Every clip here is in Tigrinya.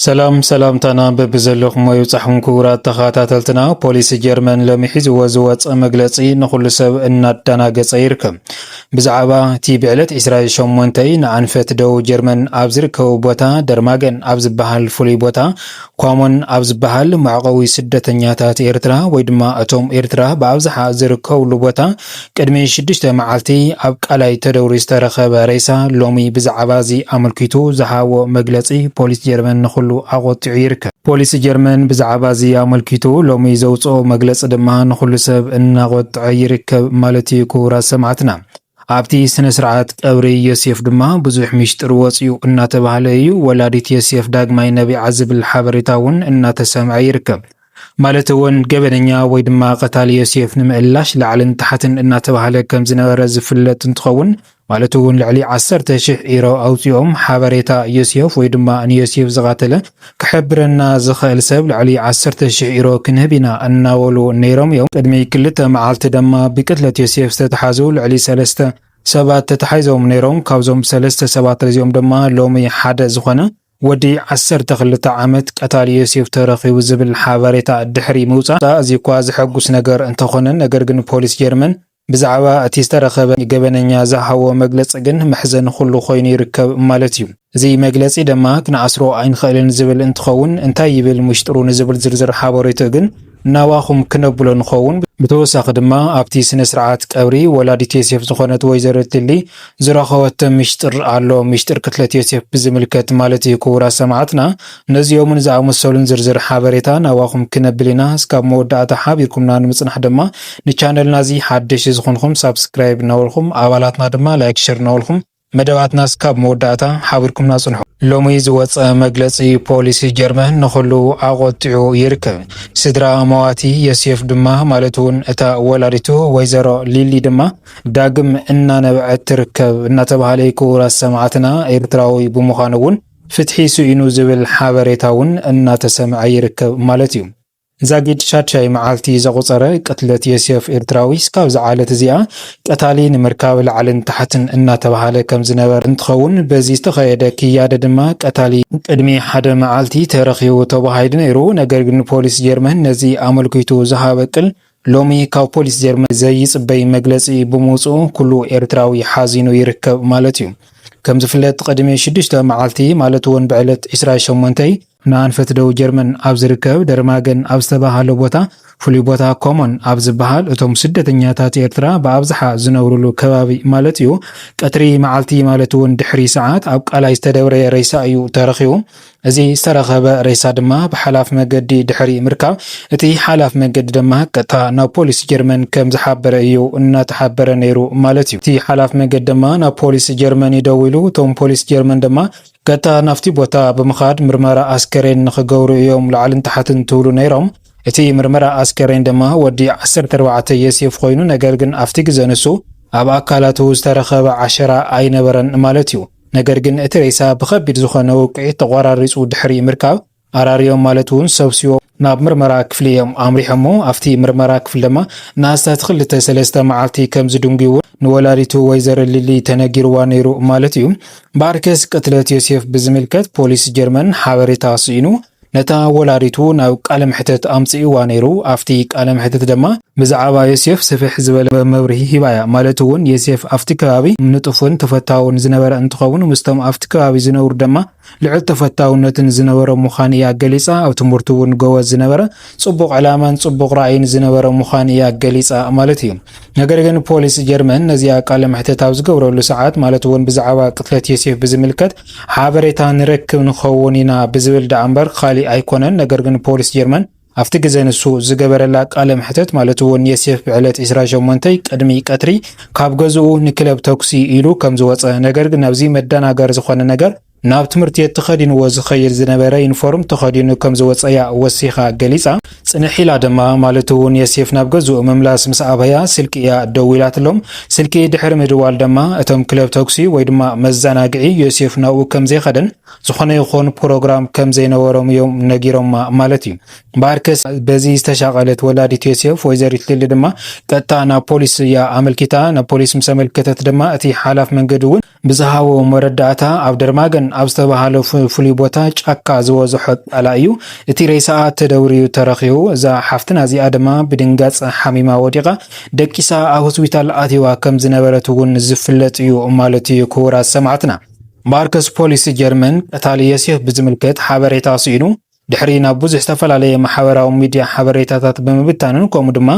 ሰላም ሰላምታና በብዘለኹሞ ይብጻሕኩም ክቡራት ተኸታተልትና። ፖሊስ ጀርመን ሎሚ ሒዝዎ ዝወጸ መግለጺ ንኹሉ ሰብ እናዳናገጸ ይርከብ። ብዛዕባ እቲ ብዕለት ዕስራ ሸሞንተ ንኣንፈት ደቡብ ጀርመን ኣብ ዝርከቡ ቦታ ደርማገን ኣብ ዝበሃል ፍሉይ ቦታ ኳሞን ኣብ ዝበሃል መዕቆቢ ስደተኛታት ኤርትራ ወይ ድማ እቶም ኤርትራ ብኣብዝሓ ዝርከብሉ ቦታ ቅድሚ ሽዱሽተ መዓልቲ ኣብ ቃላይ ተደውሪ ዝተረኸበ ሬሳ ሎሚ ብዛዕባ እዚ ኣመልኪቱ ዝሃቦ መግለጺ ፖሊስ ጀርመን ንኹሉ ኣቖጢዑ ይርከብ። ፖሊስ ጀርመን ብዛዕባ እዚ ኣመልኪቱ ሎሚ ዘውጽኦ መግለጺ ድማ ንኹሉ ሰብ እናቖጥዐ ይርከብ ማለት'ዩ ክቡራት ሰማዕትና። ኣብቲ ስነ ስርዓት ቀብሪ ዮሴፍ ድማ ብዙሕ ሚሽጥር ወጺኡ እናተባህለ እዩ ወላዲት ዮሴፍ ዳግማይ ነቢዓ ዝብል ሓበሬታ እውን እናተሰምዐ ይርከብ። ማለት እውን ገበነኛ ወይ ድማ ቀታሊ ዮሴፍ ንምእላሽ ላዕልን ታሕትን እናተባህለ ከም ዝነበረ ዝፍለጥ እንትኸውን ማለት እውን ልዕሊ ዓሰርተ ሽሕ ኢሮ ኣውፂኦም ሓበሬታ ዮሴፍ ወይ ድማ ንዮሴፍ ዝቓተለ ክሕብረና ዝኸእል ሰብ ልዕሊ ዓሰርተ ሽሕ ኢሮ ክንህብ ኢና እናበሉ ነይሮም እዮም። ቅድሚ ክልተ መዓልቲ ደማ ብቅትለት ዮሴፍ ዝተትሓዙ ልዕሊ ሰለስተ ሰባት ተታሒዞም ነይሮም። ካብዞም ሰለስተ ሰባት እዚኦም ደማ ሎሚ ሓደ ዝኾነ። ወዲ ዓሰርተ ክልተ ዓመት ቀታሊ ዮሴፍ ተረኺቡ ዝብል ሓበሬታ ድሕሪ ምውጻእ ኣዝዩ'ኳ ዘሐጉስ ነገር እንተኾነ ነገር ግን ፖሊስ ጀርመን ብዛዕባ እቲ ዝተረኸበ ገበነኛ ዝሃቦ መግለጺ ግን መሕዘኒ ኩሉ ኮይኑ ይርከብ ማለት'ዩ። እዚ መግለጺ ድማ ክንኣስሮ ኣይንኽእልን ዝብል እንትኸውን እንታይ ይብል ምሽጥሩ ንዝብል ዝርዝር ሓበሬትኡ ግን ናባኹም ክነብሎ ንኸውን። ብተወሳኺ ድማ ኣብቲ ስነ ስርዓት ቀብሪ ወላዲት ዮሴፍ ዝኾነት ወይዘሮ እትሊ ዝረኸበቶ ሚሽጥር ኣሎ፣ ሚሽጥር ቅትለት ዮሴፍ ብዝምልከት ማለት እዩ፣ ክቡራት ሰማዕትና ነዚኦምን ዝኣመሰሉን ዝርዝር ሓበሬታ ናባኹም ክነብል ኢና፣ እስካብ መወዳእታ ሓቢርኩምና ንምፅናሕ ድማ ንቻነልና እዚ ሓደሽቲ ዝኾንኹም ሳብስክራይብ እናበልኹም ኣባላትና ድማ ላይክ ሸር እናበልኹም መደባትናስ ካብ መወዳእታ ሓቢርኩምና ጽንሑ። ሎሚ ዝወጸ መግለጺ ፖሊስ ጀርመን ንኹሉ ኣቖጢዑ ይርከብ። ስድራ መዋቲ የስዮፍ ድማ ማለት'ውን እታ ወላዲቱ ወይዘሮ ሊሊ ድማ ዳግም እናነበዐት ትርከብ እናተባህለ'ዩ ክውረስ ሰማዕትና ኤርትራዊ ብምዃኑ'ውን ፍትሒ ስኢኑ ዝብል ሓበሬታ'ውን እናተሰምዐ ይርከብ ማለት'ዩ። ዛጊድ ሻድሻይ መዓልቲ ዘቑጸረ ቅትለት ዮሴፍ ኤርትራዊ ስካብ'ዛ ዓለት እዚኣ ቀታሊ ንምርካብ ላዕልን ታሕትን እናተባህለ ከምዝነበረ እንትኸውን በዚ ዝተኸየደ ክያደ ድማ ቀታሊ ቅድሚ ሓደ መዓልቲ ተረኺቡ ተባሂሉ ነይሩ ነገር ግን ፖሊስ ጀርመን ነዚ ኣመልኪቱ ዝሃበ ቅል ሎሚ ካብ ፖሊስ ጀርመን ዘይጽበይ መግለጺ ብምውጽኡ ኩሉ ኤርትራዊ ሓዚኑ ይርከብ ማለት እዩ። ከም ዝፍለጥ ቅድሚ ሽዱሽተ መዓልቲ ማለት እውን ብዕለት ዕስራ ሸሞንተይ፣ ንኣንፈት ደቡብ ጀርመን ኣብ ዝርከብ ደርማገን ኣብ ዝተባህለ ቦታ ፍሉይ ቦታ ኮሞን ኣብ ዝበሃል እቶም ስደተኛታት ኤርትራ ብኣብዝሓ ዝነብርሉ ከባቢ ማለት እዩ ቀትሪ መዓልቲ ማለት እውን ድሕሪ ሰዓት ኣብ ቃላይ ዝተደብረየ ሬሳ እዩ ተረኺቡ። እዚ ዝተረኸበ ሬሳ ድማ ብሓላፍ መገዲ ድሕሪ ምርካብ እቲ ሓላፍ መገዲ ድማ ቀጥታ ናብ ፖሊስ ጀርመን ከም ዝሓበረ እዩ እናተሓበረ ነይሩ ማለት እዩ። እቲ ሓላፍ መገዲ ድማ ናብ ፖሊስ ጀርመን እዩ ደዊሉ፣ እቶም ፖሊስ ጀርመን ድማ ቀጥታ ናብቲ ቦታ ብምኻድ ምርመራ ኣስከሬን ንኽገብሩ እዮም ላዕልን ታሕትን ትብሉ ነይሮም። እቲ ምርመራ ኣስከሬን ድማ ወዲ ዓሰርተ ኣርባዕተ የሴፍ ኾይኑ ነገር ግን ኣብቲ ግዘ ንሱ ኣብ ኣካላቱ ዝተረኸበ ዓሸራ ኣይነበረን ማለት እዩ። ነገር ግን እቲ ሬሳ ብኸቢድ ዝኾነ ውቅዒት ተቖራሪጹ ድሕሪ ምርካብ፣ ኣራርዮም ማለት እውን ሰብስዎ፣ ናብ ምርመራ ክፍሊ እዮም ኣምሪሖሞ። ኣብቲ ምርመራ ክፍሊ ድማ ንኣስታት ክልተ ሰለስተ መዓልቲ ከም ዝድንጉይዎ ንወላዲቱ ወይዘሮ ሊሊ ተነጊርዋ ነይሩ ማለት እዩ። እምበኣርከስ ቅትለት ዮሴፍ ብዝምልከት ፖሊስ ጀርመን ሓበሬታ ስኢኑ ነታ ወላዲቱ ናብ ቃለ መሕተት ኣምጽእዋ ነይሩ ኣፍቲ ቃለ መሕተት ደማ ብዛዓባ ዮስየፍ ስፍሕ ዝበለ መብርሂ ሂባ እያ ማለት ውን ዮስየፍ ኣፍቲ ከባቢ ንጡፍን ተፈታውን ዝነበረ እንትኸውን ምስቶም ኣፍቲ ከባቢ ዝነብሩ ደማ ልዑል ተፈታውነትን ዝነበሮ ምዃን እያ ገሊጻ ኣብ ትምህርቱ ውን ጎበዝ ዝነበረ ጽቡቕ ዕላማን ጽቡቕ ራእይን ዝነበረ ምዃን እያ ገሊጻ ማለት እዩ ነገር ግን ፖሊስ ጀርመን ነዚኣ ቃለ መሕተት ኣብ ዝገብረሉ ሰዓት ማለት እውን ብዛዕባ ቅትለት ዮሴፍ ብዝምልከት ሓበሬታ ንረክብ ንኸውን ኢና ብዝብል ደኣ እምበር ካሊእ ኣይኮነን። ነገር ግን ፖሊስ ጀርመን ኣብቲ ግዘ ንሱ ዝገበረላ ቃለ መሕተት ማለት እውን ዮሴፍ ብዕለት 28 ቅድሚ ቀትሪ ካብ ገዝኡ ንክለብ ተኩሲ ኢሉ ከም ዝወፀ ነገር ግን ኣብዚ መደናገሪ ዝኾነ ነገር ናብ ትምህርቲ ቤት ተኸዲንዎ ዝኸይድ ዝነበረ ዩኒፎርም ተኸዲኑ ከም ዝወጸ'ያ ወሲኻ ገሊጻ። ጽንሕ ኢላ ድማ፣ ማለት'ውን የሴፍ ናብ ገዝኡ ምምላስ ምስ ኣበያ፣ ስልኪ'ያ ደዊላትሎም። ስልኪ ድሕሪ ምድዋል ደማ፣ እቶም ክለብ ተኩሲ ወይ ድማ መዘናግዒ ዮሴፍ ናብኡ ከም ዘይኸደን ዝኾነ ይኹን ፕሮግራም ከም ዘይነበሮም'ዮም ነጊሮማ ማለት'ዩ። እምበኣርከስ በዚ ዝተሻቐለት ወላዲት ዮሴፍ ወይዘሪት ሊሊ ድማ ቀጥታ ናብ ፖሊስ'ያ ኣመልኪታ። ናብ ፖሊስ ምስ ኣመልከተት ድማ እቲ ሓላፍ መንገዲ'ውን። ብዝሃቦ መረዳእታ ኣብ ደርማገን ኣብ ዝተበሃለ ፍሉይ ቦታ ጫካ ዝበዝሖ ጣላ እዩ እቲ ሬሳኣ ተደውርዩ ተረኺቡ። እዛ ሓፍትና እዚኣ ድማ ብድንጋፀ ሓሚማ ወዲቓ ደቂሳ ኣብ ሆስፒታል ኣትይዋ ከም ዝነበረት እውን ዝፍለጥ እዩ ማለት እዩ ክቡራት ሰማዕትና። ማርከስ ፖሊስ ጀርመን ቀታሊ የሲህ ብዝምልከት ሓበሬታ ስኢኑ ድሕሪ ናብ ብዙሕ ዝተፈላለየ ማሕበራዊ ሚድያ ሓበሬታታት ብምብታንን ከምኡ ድማ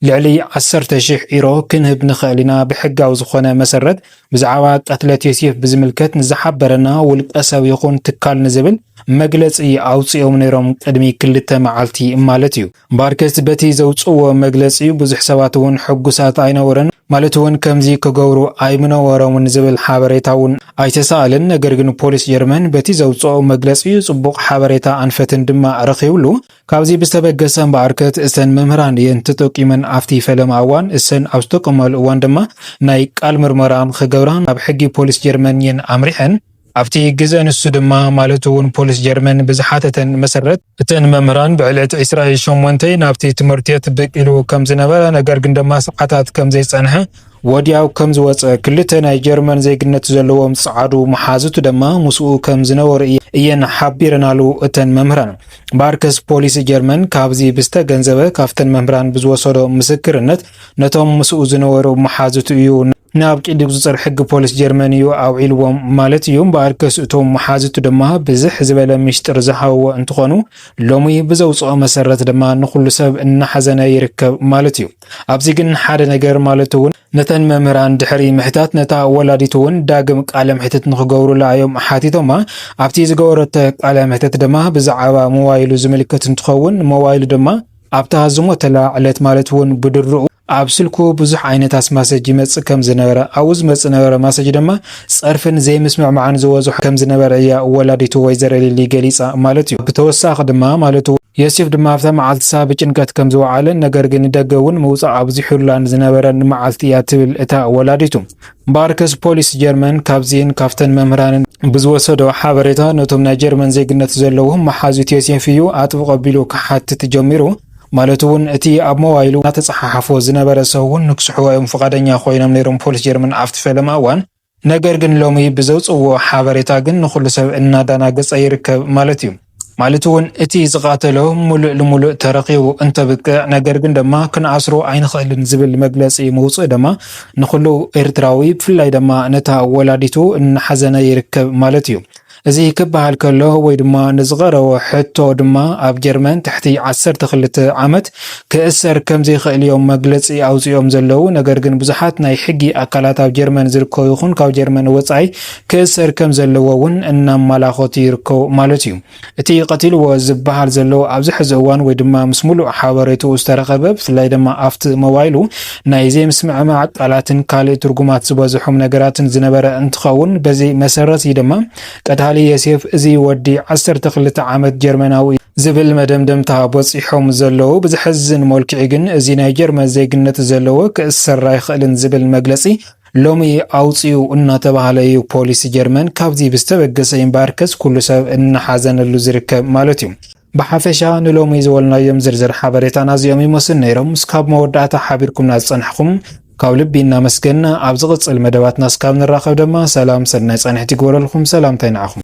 ልዕሊ ዓሰርተ ሽሕ ኢሮ ክንህብ ንኸእል ኢና ብሕጋዊ ዝኾነ መሰረት ብዛዕባ ቀትለት ዮሴፍ ብዝምልከት ንዝሓበረና ውልቀ ሰብ ይኹን ትካል ንዝብል መግለጺ ኣውጺኦም ነይሮም ቅድሚ ክልተ መዓልቲ ማለት እዩ ባርከስ በቲ ዘውጽእዎ መግለጺ ብዙሕ ሰባት እውን ሕጉሳት ኣይነበሩን ማለት እውን ከምዚ ክገብሩ ኣይምነበሮምን ዝብል ሓበሬታ እውን ኣይተሳኣለን ነገር ግን ፖሊስ ጀርመን በቲ ዘውጽኦ መግለጺ ጽቡቕ ሓበሬታ ኣንፈትን ድማ ረኺብሉ ካብዚ ብዝተበገሰ እምበኣርከት እተን መምህራን እየን ተጠቂመን ኣብቲ ፈለማ እዋን እሰን ኣብ ዝተጠቀማሉ እዋን ድማ ናይ ቃል ምርመራ ንክገብራ ናብ ሕጊ ፖሊስ ጀርመን እየን ኣምሪሐን። ኣብቲ ግዘ ንሱ ድማ ማለት እውን ፖሊስ ጀርመን ብዝሓተተን መሰረት እተን መምህራን ብዕለት ዕስራይ ሸሞንተይ ናብቲ ትምህርትት ብቅ ኢሉ ከምዝነበረ ነገር ግን ድማ ሰዓታት ከምዘይፀንሐ ወዲያው ከም ዝወጸ፣ ክልተ ናይ ጀርመን ዜግነት ዘለዎም ጸዓዱ መሓዙት ደማ ምስኡ ከም ዝነበሩ እየን ሓቢረናሉ እተን መምህራን። ባርከስ ፖሊስ ጀርመን ካብዚ ብዝተገንዘበ ካብተን መምህራን ብዝወሰዶ ምስክርነት ነቶም ምስኡ ዝነበሩ መሓዙት እዩ ናብ ቂዲ ቁጽጽር ሕጊ ፖሊስ ጀርመን እዩ ኣውዒልዎም ማለት እዩ። ባርከስ እቶም መሓዙት ደማ ብዝሕ ዝበለ ምሽጥር ዝሃብዎ እንትኾኑ ሎሚ ብዘውጽኦ መሰረት ደማ ንኹሉ ሰብ እናሓዘነ ይርከብ ማለት እዩ። ኣብዚ ግን ሓደ ነገር ማለት እውን ነተን መምህራን ድሕሪ ምሕታት ነታ ወላዲት እውን ዳግም ቃለ መሕትት ንክገብሩላ እዮም ሓቲቶማ። ኣብቲ ዝገበረቶ ቃለ መሕትት ድማ ብዛዕባ ሞባይሉ ዝምልከት እንትኸውን ሞባይሉ ድማ ኣብታ ዝሞተላ ዕለት ማለት እውን ብድርኡ ኣብ ስልኩ ብዙሕ ዓይነት ኣስማሰጅ ይመፅእ ከም ዝነበረ ኣብኡ ዝመፅእ ነበረ ማሰጅ ድማ ፀርፍን ዘይምስምዕማዕን ዝበዝሖ ከም ዝነበረ እያ ወላዲቱ ወይዘሮ ሊሊ ገሊፃ ማለት እዩ። ብተወሳኺ ድማ ማለት ዮሴፍ ድማ ኣብታ መዓልትሳ ብጭንቀት ከም ዝወዓለን ነገር ግን ንደገ እውን ምውጻእ ኣብዚሑላን ዝነበረን መዓልቲ እያ ትብል እታ ወላዲቱ። ባርከስ ፖሊስ ጀርመን ካብዚን ካብተን መምህራንን ብዝወሰዶ ሓበሬታ ነቶም ናይ ጀርመን ዜግነት ዘለዎም መሓዙት ዮሴፍ እዩ ኣጥብቕ ኣቢሉ ክሓትት ጀሚሩ። ማለት እውን እቲ ኣብ ሞባይሉ እናተጸሓሓፎ ዝነበረ ሰብውን ንክስሕቦ እዮም ፍቓደኛ ኮይኖም ነይሮም ፖሊስ ጀርመን ኣብቲ ፈለማ እዋን። ነገር ግን ሎሚ ብዘውጽእዎ ሓበሬታ ግን ንኹሉ ሰብ እናዳናገጸ ይርከብ ማለት እዩ። ማለት እውን እቲ ዝቓተሎ ሙሉእ ልሙሉእ ተረኺቡ እንተብቅዕ ነገር ግን ደማ ክንኣስሮ ኣይንኽእልን ዝብል መግለጺ ምውጽኡ ደማ ንኹሉ ኤርትራዊ ብፍላይ ደማ ነታ ወላዲቱ እናሓዘነ ይርከብ ማለት እዩ። እዚ ክበሃል ከሎ ወይ ድማ ንዝቐረቦ ሕቶ ድማ ኣብ ጀርመን ትሕቲ ዓሰርተ ክልተ ዓመት ክእሰር ከምዘይክእል'ዮም መግለጺ ኣውጺኦም ዘለዉ። ነገር ግን ብዙሓት ናይ ሕጊ ኣካላት ኣብ ጀርመን ዝርከቡ ይኹን ካብ ጀርመን ወጻኢ ክእሰር ከምዘለዎ'ውን እናማላኸቱ ይርከቡ ማለት'ዩ። እቲ ቀቲልዎ ዝበሃል ዘሎ ኣብዚ ሕዚ እዋን ወይ ድማ ምስ ምሉእ ሓበሬትኡ ዝተረኸበ ብፍላይ ድማ ኣብቲ ሞባይሉ ናይ ዘይምስምዕማዕ ቃላትን ካልእ ትርጉማት ዝበዝሖም ነገራትን ዝነበረ እንትኸውን፣ በዚ መሰረት እዩ ድማ ቀታሊ የሴፍ እዚ ወዲ ዓሰርተ ክልተ ዓመት ጀርመናዊ እዩ ዝብል መደምደምታ በጺሖም ዘለዉ። ብዘሕዝን መልክዑ ግን እዚ ናይ ጀርመን ዜግነት ዘለዎ ክእሰር ኣይኽእልን ዝብል መግለጺ ሎሚ ኣውጺኡ እናተባህለ እዩ ፖሊስ ጀርመን ካብዚ ብዝተበገሰ እምበኣርከስ ኩሉ ሰብ እናሓዘነሉ ዝርከብ ማለት እዩ። ብሓፈሻ ንሎሚ ዝወልናዮም ዝርዝር ሓበሬታና እዚኦም ይመስሉ ነይሮም። እስካብ መወዳእታ ሓቢርኩምና ዝጸናሕኹም ካብ ልቢ እናመስገንና ኣብ ዝቕጽል መደባትና እስካብ ንራኸብ ደማ ሰላም ሰናይ ጻንሒት ይግበረልኩም። ሰላምታይ ንዓኹም።